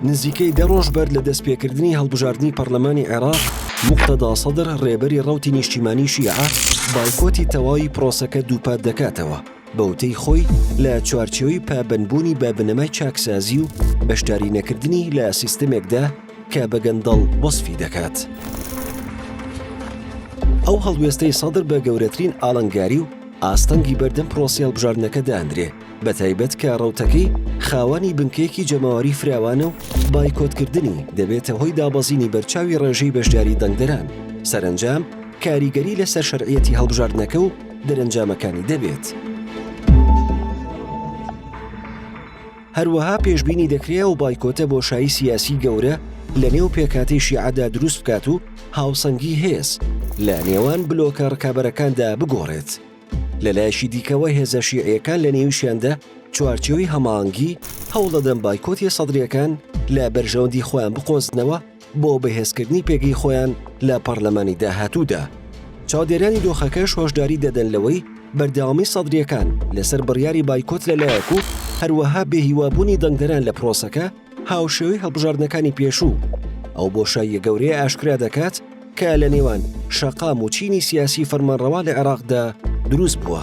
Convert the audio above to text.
نزیکەی دە ڕۆژ بەر لە دەستپێکردنی هەڵبژاردنی پەرلەمانی عێراق مختدا سەدر ڕێبەری ڕوتی نیشتیمانی شیعە بایکۆتی تەواوی پرۆسەکە دووپات دەکاتەوە بەوتەی خۆی لە چوارچەوەی پابندبوونی بە بنەمای چاکسازی و بەشداری نەکردنی لە سیستمێکدا کە بەگەندەڵ وەصفی دەکات. ئەو هەڵوێستەی سەدر بە گەورەترین ئاڵنگاری و ئاستەنگی بەردەم پرۆسیال بژاردنەکە دادرێ بەتایبەت کە ڕەوتەکەی خاوەنی بنکەیەکی جەماوەری فراوانە و بایکۆتکردنی دەبێتە هۆی دابەزینی بەرچاوی ڕێژەی بەشداری دەنگدەران، سەرەنجام کاریگەری لەسەر شەرعیەتی هەڵبژاردنەکە و دەرەنجامەکانی دەبێت. هەروەها پێشبینی دەکرێ ئەو بایکۆتە بۆشایی سیاسی گەورە لە نێو پێکهاتەی شیعەدا دروست بکات و هاوسەنگی هێز لە نێوان بلۆکە ڕکابەرەکاندا بگۆڕێت. لەلایەکی دیکەوە هێزە شیعیەکان لە نێویشیاندا چوارچێوی هەماهەنگی هەوڵدەدەن بایکۆتی سەدریەکان لە بەرژەوەندی خۆیان بقۆزنەوە بۆ بەهێزکردنی پێگەی خۆیان لە پەرلەمانی داهاتوودا چاودێرانی دۆخەکەش هۆشداری دەدەن لەوەی بەردەوامی سەدریەکان لەسەر بڕیاری بایکۆت لەلایەک و هەروەها بێهیوابوونی دەنگدەران لە پرۆسەکە هاوشێوەی هەڵبژاردنەکانی پێشوو، ئەو بۆشاییە گەورەیە ئاشکرا دەکات کە لە نێوان شەقام و چینی سیاسی فەرمانڕەوا لە عێراقدا دروست بووە.